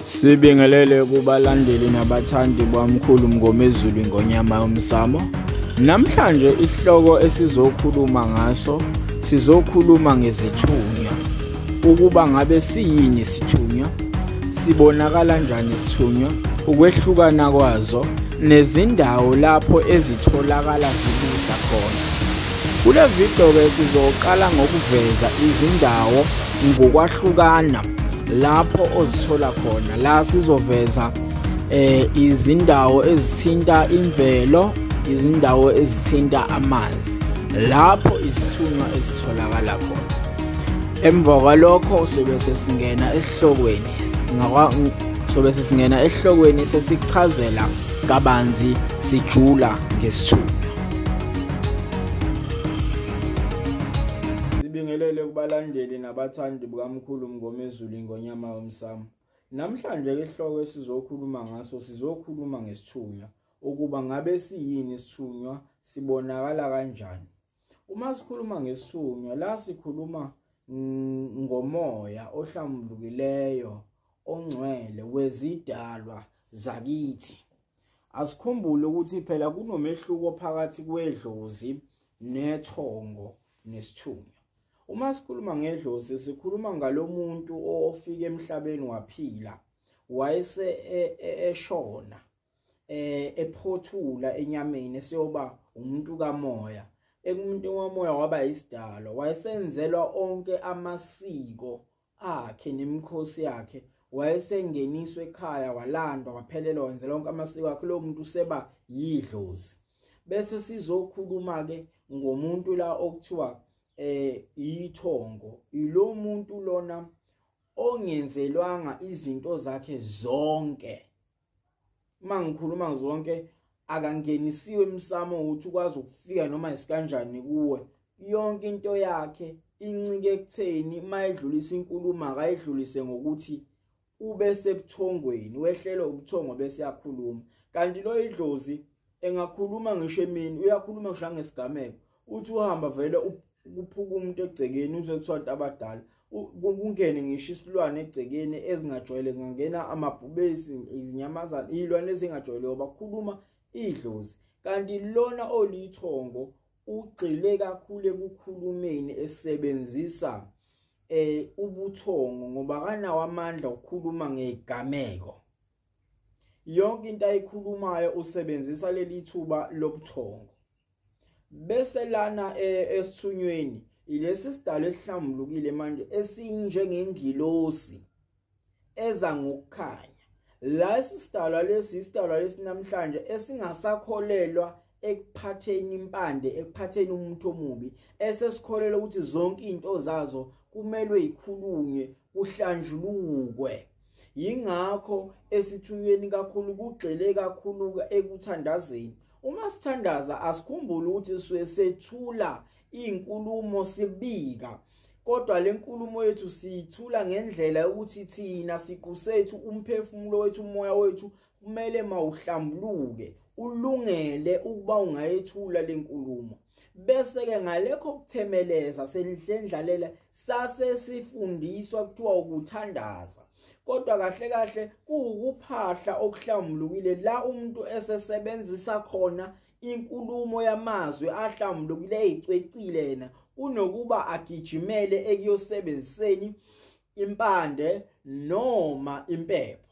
Sibingelele kubalandeli nabathandi bwamkhulu Mngomezulu ingonyama yomsamo. Namhlanje isihloko esizokhuluma ngaso sizokhuluma ngezithunywa. ukuba ngabe siyini isithunywa sibonakala njani isithunywa ukwehlukana kwazo nezindawo lapho ezitholakala zibusa khona kule video-ke sizoqala ngokuveza izindawo ngokwahlukana lapho ozithola khona la sizoveza eh izindawo ezithinta imvelo izindawo ezithinta amanzi lapho izithunywa ezitholakala khona emva kwalokho sobe sesingena esihlokweni sobe sesingena esihlokweni sesichazela kabanzi sijula ngesithunywa sibingelele kubalandeli nabathandi bukamkhulu mngomezulu ingonyama yomsamo namhlanje ke isihloko esizokhuluma ngaso sizokhuluma ngesithunywa ukuba ngabe siyini isithunywa sibonakala kanjani Uma sikhuluma ngesunywa la sikhuluma ngomoya ohlambulukileyo ongcwele wezidalwa zakithi. Asikhumbule ukuthi phela kunomehluko phakathi kwedlozi nethongo nesithunywa. Uma sikhuluma ngedlozi sikhuluma ngalomuntu ofike emhlabeni waphila wayese e, e, eshona eh ephothula enyameni esiyoba umuntu kamoya ekumuntu womoya waba isidalwa wayesenzelwa onke amasiko akhe nemikhosi yakhe wayesengeniswa ekhaya walandwa waphelelwa wenze lonke amasiko akhe lo muntu useba yidlozi bese sizokhuluma ke ngomuntu la okuthiwa eh ithongo ilo muntu lona ongenzelwanga izinto zakhe zonke uma ngikhuluma zonke akangenisiwe emsamo ukuthi ukwazi ukufika noma isikanjani kuwe yonke into yakhe incike ekutheni mayedlulisa inkulumo akayidlulise ngokuthi ube sebuthongweni wehlele ubuthongo bese yakhuluma kanti lo idlozi engakhuluma ngisho emini uyakhuluma ngisho ngesigameko uthi uhamba vele ukuphuka umuntu egcekeni uze kuthiwa abantu abadala kungene ngisho isilwane egcekeni ezingajwayele kungangena amabhubesi izinyamazane iy'lwane ezingajwayele bakhuluma idlozi kanti lona olithongo ugxile kakhulu ekukhulumeni esebenzisa eh ubuthongo ngoba kanawo amandla okukhuluma ngegameko yonke into ayikhulumayo usebenzisa leli thuba lobuthongo bese lana eh, esithunyweni ilesi sidalo esihlambulukile manje esinjengengilosi eza ngokukhanya la isisidalwa lesi isidalwa lesi namhlanje esingasakholelwa ekuphatheni impande ekuphatheni umuntu omubi esesikholelwa ukuthi zonke izinto zazo kumelwe ikhulunywe kuhlanjulukwe yingakho esithunyweni kakhulu kugxile kakhulu ekuthandazeni uma sithandaza asikhumbule ukuthi sisuke sethula iy'nkulumo sibika kodwa le nkulumo yethu siyithula ngendlela yokuthi thina siqu sethu umphefumulo wethu umoya wethu kumele mawuhlambuluke ulungele ukuba ungayethula lenkulumo bese ke ngalekho kuthemeleza senhlendlalela sase sifundiswa kuthiwa ukuthandaza kodwa kahle kahle kuwukuphahla okuhlambulukile la umuntu esesebenzisa khona inkulumo yamazwi ahlambulukile eyicwecile yena kunokuba agijimele ekuyosebenziseni impande noma impepho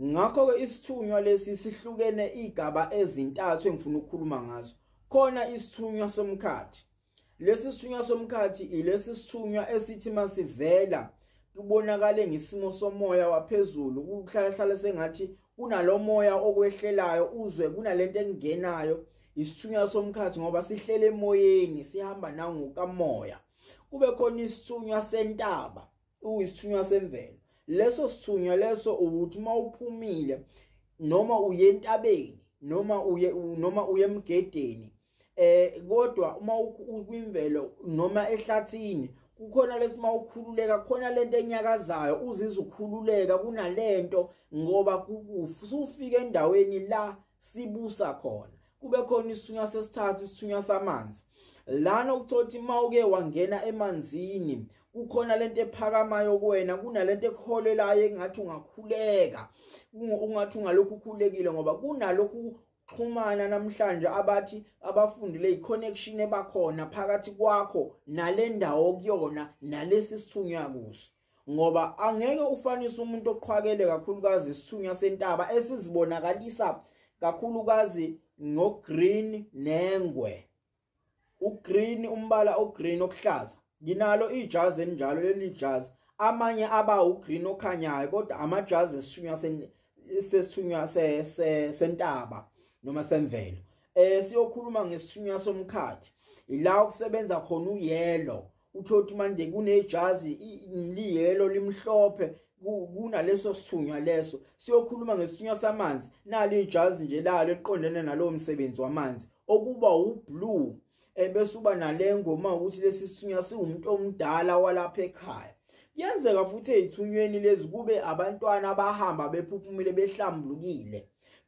ngakho-ke isithunywa lesi sihlukene iy'gaba ezintathu engifuna ukukhuluma ngazo khona isithunywa somkhathi lesi sithunywa somkhathi ilesi sithunywa esithi masivela kubonakale ngesimo somoya waphezulu kuhlalahlala sengathi kunalo moya okwehlelayo uzwe kunalento engenayo isithunywa somkhathi ngoba sihlele emoyeni sihamba nangokamoya kube khona isithunywa sentaba uyisithunywa semvelo leso sithunywa leso ukuthi uma uphumile noma uye entabeni noma uye noma uye emgedeni eh kodwa uma ukwimvelo noma ehlathini kukhona lesima ukhululeka khona lento enyakazayo uzizwa ukhululeka kunalento ngoba ufike endaweni la sibusa khona kube khona isithunywa sesithathu isithunywa samanzi lana ukuthothi uma uke wangena emanzini kukhona lento ephakamayo kuwena kunalento ekuholelayo engathi ungakhuleka ungathi ungalokhu ukhulekile ngoba kunalokhu xhumana namhlanje abathi abafundile iconnection ebakhona phakathi kwakho nalendawo kuyona nalesi sithunywa kuso ngoba angeke ufanise umuntu oqhwakele kakhulukazi isithunywa sentaba esizibonakalisa kakhulukazi ngogreen nengwe ugreen umbala ogreen okuhlaza nginalo ijazi enjalo leli jazi amanye aba ugreen okhanyayo kodwa amajazi esithunywa sesithunywa sentaba noma semvelo eh siyokhuluma ngesithunywa somkhathi ila okusebenza khona uyellow uthola ukuthi manje kunejazi liyelo limhlophe kunaleso sithunywa leso siyokhuluma ngesithunywa samanzi nalo ijazi nje lalo eliqondene nalowo msebenzi wamanzi okuba wublue ebese uba nalengo uma ukuthi lesi sithunywa siwumuntu omdala walapha ekhaya kuyenzeka futhi ezithunyweni lezi kube abantwana abahamba bephuphumile behlambulukile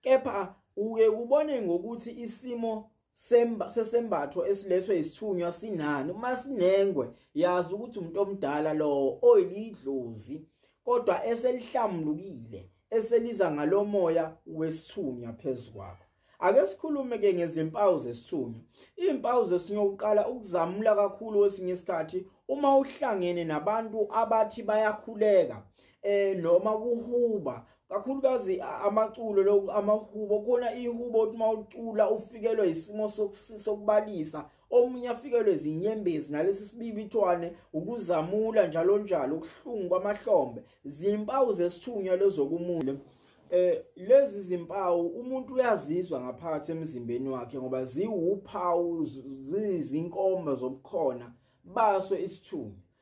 kepha uye ubone ngokuthi isimo semba sesembatho esilethwe isithunywa sinani uma sinengwe yazi ukuthi umuntu omdala lowo oyilidlozi kodwa eselihlamlukile eseliza ngalomoya wesithunywa phezukwakho ake sikhulume ke ngezimpawu zesithunywa izimpawu zesithunywa uqala ukuzamula kakhulu wesinye isikhathi uma uhlangene nabantu abathi bayakhuleka eh noma kuhuba kakhulukazi amaculo lokhu amahubo khona ihubo ukuthi uma ucula ufikelwe isimo sokubalisa omunye afikelwe zinyembezi nalesi sibibithwane ukuzamula njalo njalo ukuhlungu kwamahlombe zimpawu zesithunywa lezokumule eh lezi zimpawu umuntu uyazizwa ngaphakathi emzimbeni wakhe ngoba ziwuphawu zizinkomba zobukhona baso isithunywa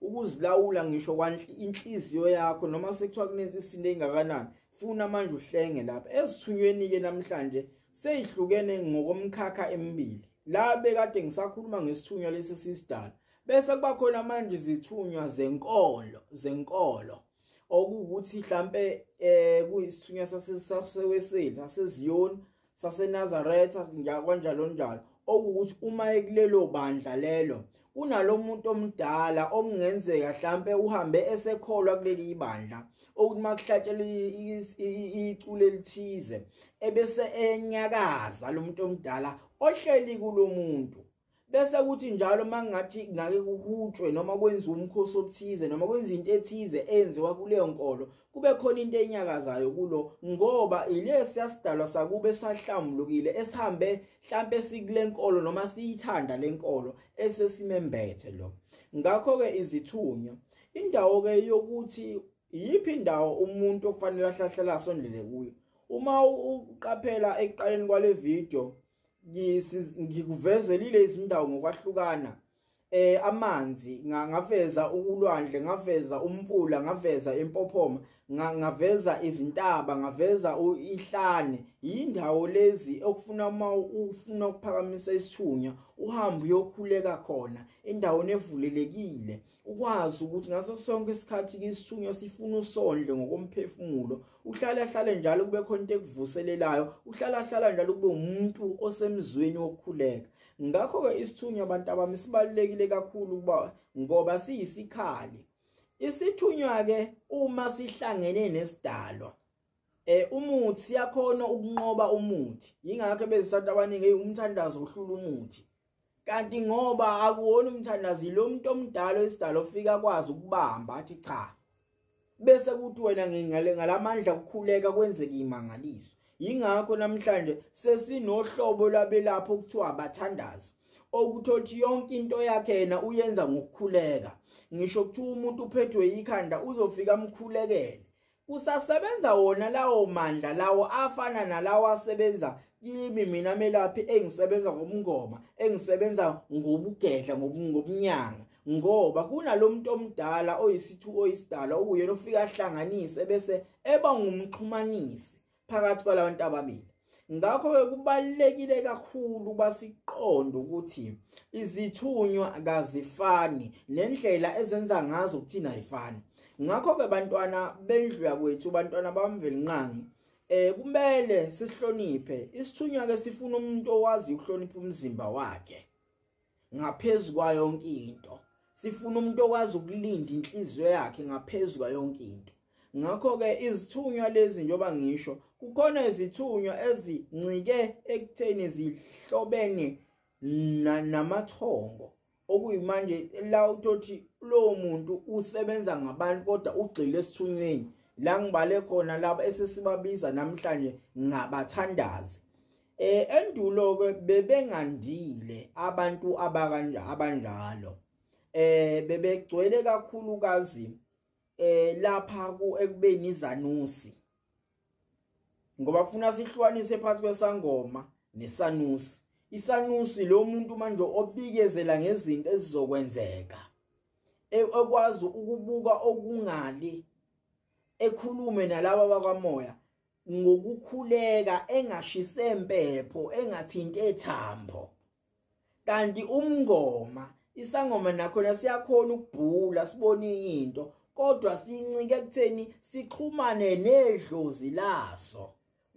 ukuzilawula ngisho inhliziyo yakho noma sekuthiwa kunenza isinto engakanani funa manje uhlenge lapha ezithunyweni ke namhlanje seyihlukene ngokomkhakha emibili la bekade ngisakhuluma ngesithunywa lesi sisidala bese kuba khona manje izithunywa zenkolo zenkolo okuwukuthi mhlambe eh kuyisithunywa saseseweseli saseziyoni saseNazaretha kanjalo njalo okuwukuthi uma ekulelo bandla lelo kunalomuntu omdala okungenzeka mhlambe uhambe esekholwa kuleli ibandla okuthi makuhlatshelwa icule elithize ebese enyakaza lomuntu omdala ohleli kulomuntu bese kuthi njalo uma ngathi ngake kuhutshwe noma kwenziwa umkhosi obuthize noma kwenziwa into ethize enziwa kuleyo nkolo kube khona into enyakazayo kulo ngoba ilesi yasidalwa sakube sahlambulukile esihambe mhlampe sikule nkolo noma siyithanda le nkolo esesimembethe lo ngakho-ke izithunywa indawo-ke yokuthi iyiphi indawo umuntu okufanele ahlahlele asondele kuyo uma uqaphela ekuqaleni kwale video ngikuvezelile izindawo ngokwahlukana eh amanzi ngaveza ukulwandle ngaveza umfula ngaveza impophoma ngaveza izintaba ngaveza ihlane yindawo lezi okufuna uma ufuna ukuphakamisa isithunya uhamba uyokhuleka khona endaweni evulelekile ukwazi ukuthi ngaso sonke isikhathi kisithunywa sifuna usondle ngokomphefumulo uhlala hlale njalo kube khona into ekuvuselelayo uhlala hlala njalo kube umuntu osemzweni wokukhuleka ngakho ke isithunywa abantu abami sibalekile kakhulu kuba ngoba siyisikhali isithunywa ke uma sihlangene nesidalwa eh umuthi siyakhona ukunqoba umuthi yingakho bezisathi abaningi umthandazo uhlula umuthi kanti ngoba akuwona umthandazi lo muntu omdala oyisidala ofika kwazi ukubamba athi cha bese kuthi wena ngingale ngalamandla kukhuleka kwenzeke imangaliso yingakho namhlanje sesinohlobo labelapho kuthiwa abathandazi okuthothi yonke into yakhe yena uyenza ngokukhuleka ngisho kuthiwa umuntu uphethwe yikhanda uzofika amkhulekele Kusasebenza wona lawo mandla lawo afana nalawo asebenza kimi mina melaphi engisebenza ngomngoma engisebenza ngobugedla ngobunyanga ngoba kunalomuntu omdala oyisithu oyisidala uyena ofika ahlanganise bese eba ngumxhumanisi phakathi kwalabantu ababili ngakho-ke kubalulekile kakhulu uba siqonde ukuthi izithunywa kazifani nendlela ezenza ngazo kuthina ayifani ngakho-ke bantwana bendlu yakwethu bantwana bamvelinqangi eh kumele sihloniphe isithunywa ke sifuna umuntu owazi ukuhlonipha umzimba wakhe ngaphezulu kwayo yonke into sifuna umuntu okwazi ukulinda inhliziyo yakhe ngaphezulu kwayo yonke into ngakho-ke izithunywa lezi njengoba ngisho kukhona izithunywa ezincike ekutheni zihlobene namathongo okuyimanje la utothi lowo muntu usebenza ngabantu kodwa ugxile esithunyweni la ngibale khona laba esesibabiza namhlanje ngabathandazi Eh endulo ke bebengandile abantu abakanje abanjalo. Eh bebegcwele kakhulu kazi eh lapha ku ekubeni izanusi. Ngoba kufuna sihlukanise phakathi kwesangoma nesanusi. Isanusi lo muntu manje obikezela ngezinto ezizokwenzeka. E, ekwazi ukubuka okungali ekhulume nalabo bakamoya ngokukhuleka engashise impepho engathinti ethambo kanti umngoma isangoma nakhona siyakhona ukubhula sibone into kodwa sincike ekutheni sixhumane nedlozi laso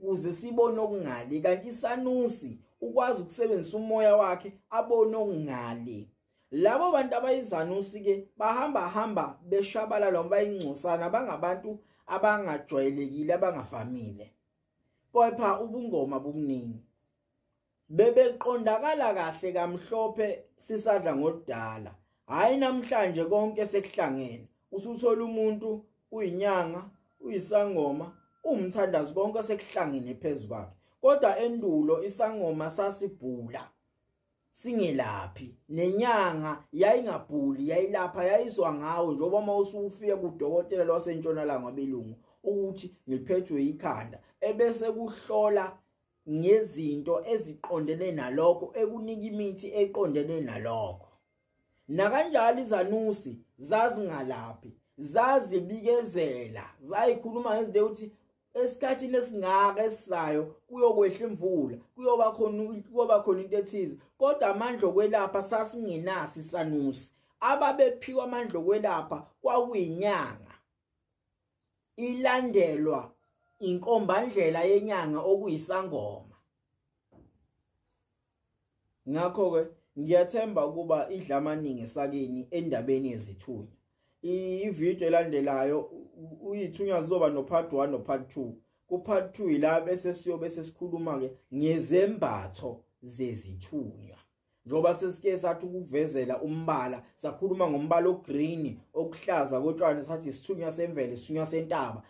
kuze sibone okungali kanti isanusi ukwazi ukusebenzisa umoya wakhe abone okungali labo bantu abayizanusi ke bahamba hamba beshabala lo bayingcosana bangabantu abangajwayelekile abangavamile kepha ubungoma bukuningi bebeqondakala kahle kamhlophe sisadla ngodala hayi namhlanje konke sekuhlangene usuthola umuntu uyinyanga uyisangoma umthandazi konke sekuhlangene phezukwakhe kodwa endulo isangoma sasibhula singelaphi nenyanga yayingabhuli yayilapha yayizwa ngawo njengoba uma usufike kudokotela lwasentshonalanga belungu ukuthi ngiphethwe yikhanda ebese kuhlola ngezinto eziqondene nalokho ekunika imithi eqondene nalokho nakanjalo izanusi zazingalaphi zazibikezela zayikhuluma ngezinto ukuthi esikhathini esingaka esizayo kuyokwehla imvula kuyoba khona kuyoba khona into ethize kodwa amandla okwelapha sasingenasi sanusi ababephiwa amandla okwelapha kwakuyinyanga ilandelwa inkombandlela yenyanga okuyisangoma ngakho ke ngiyathemba ukuba idla amaningi esakeni endabeni yezithunywa ivideo elandelayo uyithunywa zizoba no part 1 no part 2 ku part 2 ila bese siyobe sesikhuluma ke ngezembatho zezithunywa njengoba sesike sathi ukuvezela umbala sakhuluma ngombala ogreen okuhlaza kotshwani sathi isithunywa semvelo isithunywa sentaba